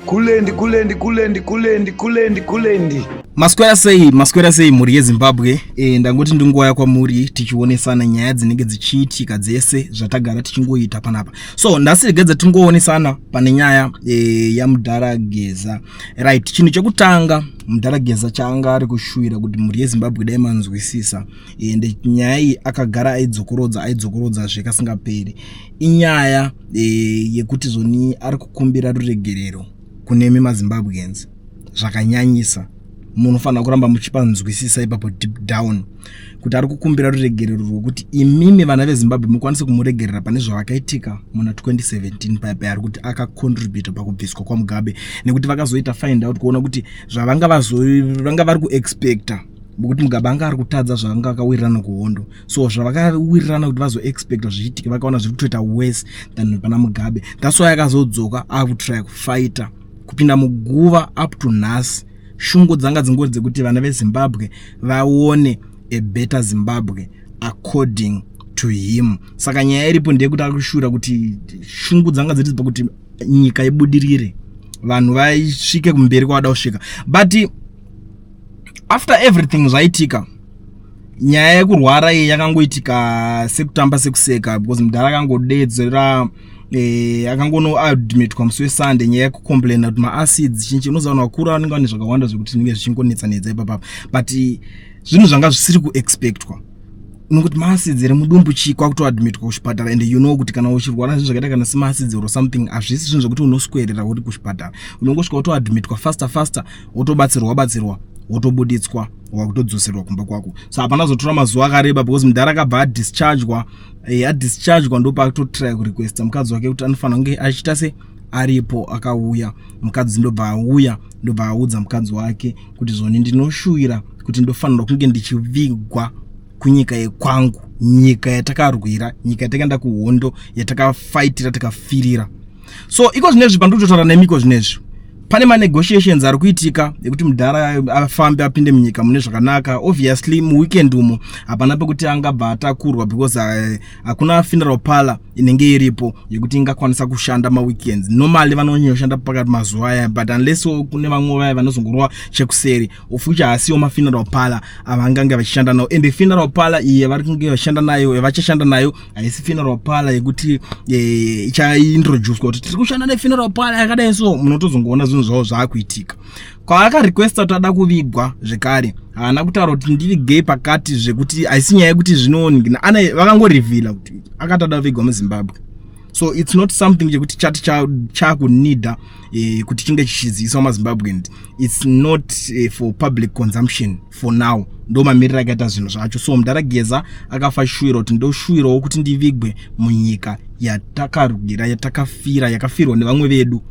Kulendi kulendi kulendi kulendi kulendi kulendi. Maswera sei maswera sei mhuri yeZimbabwe e, ndangoti ndingouya kwamuri tichionesana nyaya dzinenge dzichiitika dzese zvatagara tichingoita panapa so ndasiregedza tingoonesana pane nyaya e, yamudhara Geza right chinhu chekutanga mudhara Geza chaanga ari kushuwira kuti mhuri yeZimbabwe dai manzwisisa ende nyaya iyi akagara aidzokorodza aidzokorodzazve kasingaperi inyaya e, yekuti zvoni ari kukumbira ruregerero kunemi mazimbabweans zvakanyanyisa munofanira kuramba muchipanzwisisa ipapo deep down kuti ari kukumbira ruregerero rwekuti imimi vana vezimbabwe mukwanise kumuregerera pane zvavakaitika muna 2017 paya paya ari kuti akacontributa pakubviswa kwamugabe nekuti vakazoita find out kuona kuti zvavanga vanga vari kuexpecta bokuti mugabe anga ari kutadza zvaanga akawirirana kuhondo so zvavakawirirana kuti vazoexpecta zvichiitika vakaona zviri kutoita worse than pana mugabe that's why akazodzoka akutrya kufaita kupinda muguva up to nhasi shungu dzanga dzingori dzekuti vana vezimbabwe vaone a better zimbabwe according to him saka nyaya iripo ndeyekuti akushura kuti shungu dzanga dziri pakuti nyika ibudirire vanhu vaisvike kumberi kwavada kusvika but after everything zvaitika nyaya yekurwara iyi yakangoitika sekutamba sekuseka because mudhara akangodedzera eh, akangonoadmitwa musi wesunday nyaya yekucomplaina kuti maacids chinchi unozaona vakuru vanenge vane zvakawanda zvekuti zvinenge zvichingonetsa netsa ipapapa but zvinhu zvanga zvisiri kuexpectwa nokuti maacids ere mudumbu chii kwakutoadmitwa kuchipatara and you know kuti kana uchirwara zvinhu zvakaita kana semaacids or something hazvisi zvinhu zvekuti unoswerera uri kuchipatara unongosvika utoadmitwa faster faster wotobatsirwa batsirwa wotobuditswa wakutodzoserwa kumba kwako so hapana zotora mazuva akareba because mudhara akabva adischargwa eh, adischargwa ndopakutotry kurequesta mukadzi wake kuti anofanira kunge achiita se aripo akauya mukadzi ndobva auya ndobva audza mukadzi wake kuti zvoni ndinoshuvira kuti ndofanirwa kunge ndichivigwa kunyika yekwangu nyika yatakarwira nyika yatakaenda kuhondo yatakafaitira takafirira so iko zvinezvi pandiri kutotaura nemi iko zvinezvi pane manegotiations ari kuitika ekuti mudhara afambe apinde munyika mune zvakanaka obviously muweekend umo hapana pekuti angabva atakurwa because eh, hakuna uh, funeral parlor inenge iripo yekuti ingakwanisa kushanda maweekends normally vanonyoshanda pakati mazuva aya but unless kune vamwe vaya vanozongorova chekuseri of which haasiwo mafuneral parlor avangange vachishanda nawo and funeral parlor iye vari kunge vachishanda nayo yavachashanda nayo haisi funeral parlor yekuti eh, ichaintroducwa kuti tiri kushanda nefuneral parlor yakadai so munotozongoona zvinhu zvavo zvaakuitika kwaakarequesta kuti ada kuvigwa zvekare haana kutaura kuti ndivigei pakati zvekuti haisi nyaya yekuti zvinooningina vakangorevhila kuti akatada kuvigwa muzimbabwe so its not something chekuti chati chakunida eh, kuti chinge chichiziviswa mazimbabwean its not eh, for public consumption for now ndo mamiriro akaita zvinhu zvacho so mudhara geza akafa shuwira kuti ndoshuwirawo kuti ndivigwe munyika yatakarwira yatakafira yakafirwa nevamwe vedu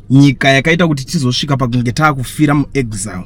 nyika yakaita kuti tizosvika pakunge taakufira muexile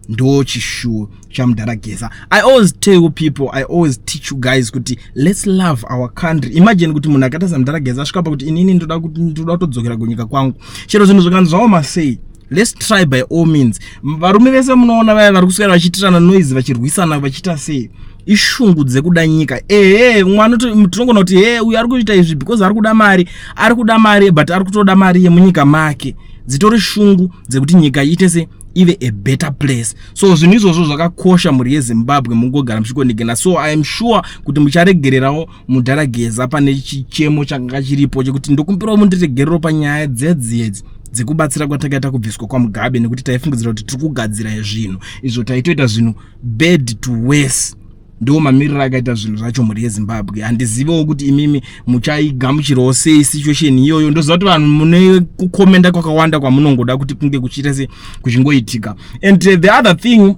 ndo chishuwo chamudhara geza i always tell you people i always teach you guys kuti let's love our country imagine kuti munhu akaita samudhara geza asvika pa kuti inini ndoda kuti ndoda kutodzokera kunyika kwangu chero zvinhu zvikanzi zvaoma sei let's try by all means varume vese munoona vaya vari kuswera vachiitirana noise vachirwisana vachiita sei ishungu dzekuda nyika ehe mwana tinogona kuti he uyu ari kuita izvi because ari kuda mari ari kuda mari but ari kutoda mari yemunyika make dzitori shungu dzekuti nyika iite se ive a better place so zvinhu izvozvo zvakakosha mhuri yezimbabwe mungogara muchikonegena so iam sure kuti mucharegererawo mudhara geza pane chichemo chakanga chiripo chekuti ndokumbirawo mundiregerero panyaya dzedziedzi dzekubatsira kwatakaita kubviswa kwamugabe nekuti taifungidzira kuti tiri kugadzira zvinhu izvo taitoita zvinhu bad to wese ndo mamiriro akaita zvinhu zvacho mhuri yezimbabwe handizivewo kuti imimi muchaigamuchirawo sei situation iyoyo ndoziva kuti vanhu mune kukomenda kwakawanda kwamunongoda kuti kunge kuchiita se kuchingoitika and uh, the other thing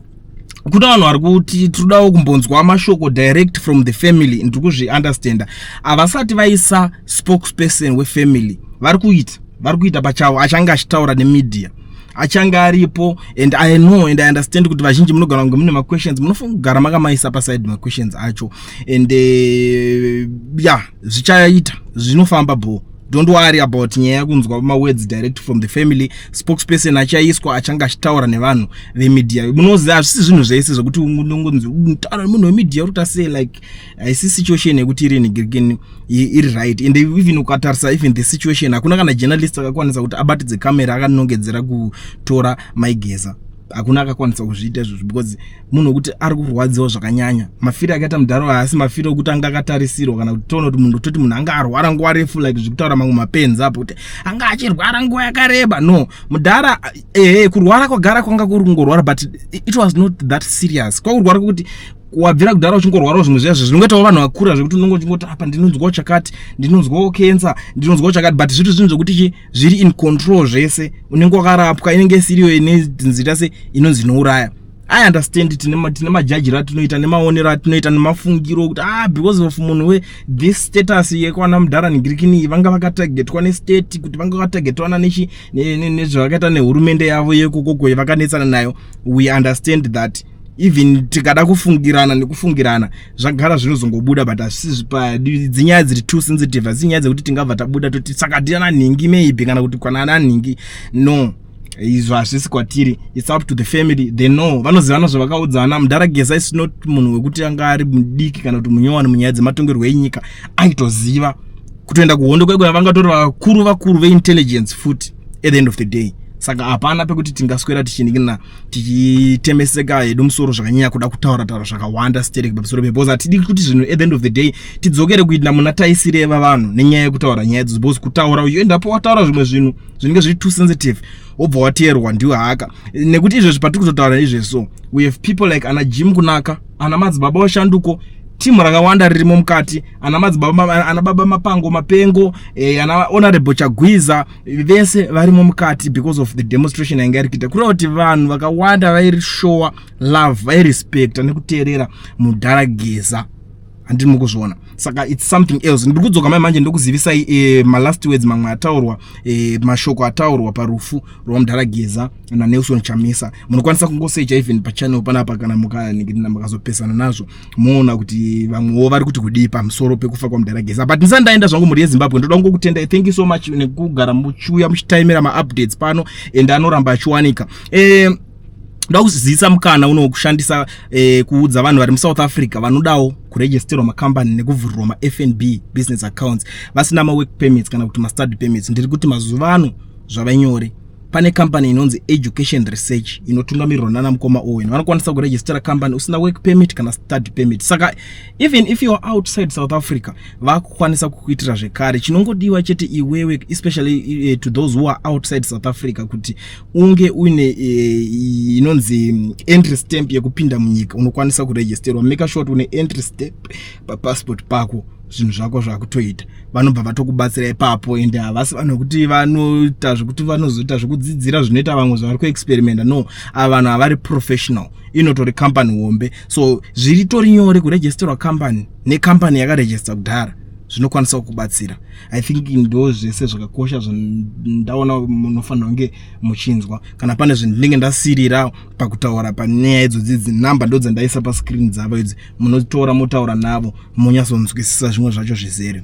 kuda vanhu vari kuti tinodawo kumbonzwa mashoko direct from the family ndiri kuzviunderstanda havasati vaisa spokesperson wefamily vari kuita vari kuita pachavo achange achitaura nemedia achange aripo and i know and i understand kuti vazhinji munogara kunge mune maquestions munofanira kugara makamaisa paside maquestions acho and uh, eh, ya yeah, zvichaita zvinofamba bhoo don't worry about nyaya yakunzwa mawords direct from the family spokesperson achaiswa achange achitaura nevanhu vemedia munoziva hazvisi zvinhu zvese zvekuti unongonzi mutaura nemunhu wemedia uri kutasei like haisi situation yekuti iri nigirikini iri right and even ukatarisa even the situation hakuna kana journalist akakwanisa kuti abatidze camera akanongedzera kutora maigeza hakuna akakwanisa kuzviita izvozvo because munhu wekuti ari kurwadziwa zvakanyanya mafiro akaita mudhara haasi mafiro okuti anga akatarisirwa kana kuti toona kuti munhu toti munhu anga arwara nguva refu like zvekutaura mamwe mapenzi apo kuti anga achirwara nguva yakareba no mudhara ehe kurwara kwagara kwanga kuri kungorwara but it was not that serious kwakurwara kwekuti wabvira kudhara uchingorwarawo zvimwe zviya zvinongoitawo vanhu vakura zvekuti unonge uchingoti apa ndinonzwawo chakati ndinonzwawo kensa ndinonzwawo chakati but zviri zvinhu zvekuti chi zviri in control zvese unenge wakarapwa inenge isiriyo ine nzira se inonzi inouraya i understand tine tine majajiro atinoita nemaonero atinoita nemafungiro okuti ah because of munhu we this status yekwana mudhara nigirikini vanga vakatagetwa nestate kuti vanga vakatagetwana nezvavakaita nehurumende yavo yekokoko yevakanetsana nayo we understand that even tikada kufungirana nekufungirana zvagara zvinozongobuda but asizvi pa dzinyaya dziri too sensitive asi nyaya dzekuti tingabva tabuda toti saka tiana nhingi maybe kana kuti kwana ana nhingi no izvo hazvisi kwatiri its up to the family they know vanozivana zvavakaudzana mudhara gesa is not munhu wekuti anga ari mudiki kana kuti munyowani munyaya dzematongerwo enyika aitoziva kutoenda kuhondo kwekuya vangatori vakuru vakuru veintelligence futi at the end of the day saka hapana pekuti tingaswera tichiningina tichitemeseka hedu musoro zvakanyanya kuda kutaura taura zvakawanda sterek pamusoro pe because hatidi kuti zvinhu at the end of the day tidzokere kuita muna taisireva vanhu nenyaya yekutaura nyaya idzodzo because kutaura uyu endapo wataura zvimwe zvinhu zvinenge zviri too sensitive wobva wateerwa ndiwo haka nekuti izvezvi patiri kutotaura izvezvo we have people like ana jim kunaka ana madzibaba washanduko timu rakawanda ririmo mukati ana madzibaba ana baba mapango mapengo eh, ana honorable chagwiza vese varimo mukati because of the demonstration yainge iri kuita kureva kuti vanhu vakawanda vairishowa love vairespecta nekuteerera mudhara geza handiri mukuzviona saka its something else ndiri kudzoka mai manje ndokuzivisai e, malast words mamwe ataurwa e, mashoko ataurwa parufu rwamudhara geza nanelson chamisa munokwanisa kungosecha even pachannel panapa kana mukazopesana nazvo moona kuti vamwewo vari kuti kudii pamusoro pekufa kwamudhara geza but ndisati ndaenda zvangu mhuri yezimbabwe ndoda kungokutendai thank you so much nekugara muchiuya muchitaimira maupdates pano and anoramba achiwanika eh, ndoda kuzivisa mukana uno kushandisa eh, kuudza vanhu vari musouth africa vanodawo kuregisterwa makambani nekuvhurirwa mafnb business accounts vasina mawork permits kana kuti mastudy permits ndiri kuti mazuva ano zvava nyore pane kambani inonzi education research inotungamirirwa nana mukoma owen vanokwanisa kurejistera kambani usina work permit kana study permit saka even if youare outside south africa vakukwanisa kukuitira zvekare chinongodiwa chete iwewe especially uh, to those who are outside south africa kuti unge uine uh, inonzi mm, entry stamp yekupinda munyika unokwanisa kurejisterwa make sure kuti une entry stamp papassport pako zvinhu zvako zvakutoita vanobva vatokubatsira ipapo ende havasi vanhu vekuti vanoita zvekuti vanozoita zvekudzidzira zvinoita vamwe zvavari kuexperimenta no ava vanhu havari professional inotori company hombe so zviritori nyore kuregisterwa company necompany yakaregister kudhara zvinokwanisa kukubatsira i think ndo zvese zvakakosha zvandaona munofanira kunge muchinzwa kana pane zvinhu ndinenge ndasirira pakutaura panyaya idzodzi idzi number ndo dzandaisa pascreen dzavo idzi munotora motaura navo monyasonzwisisa zvimwe zvacho zvizere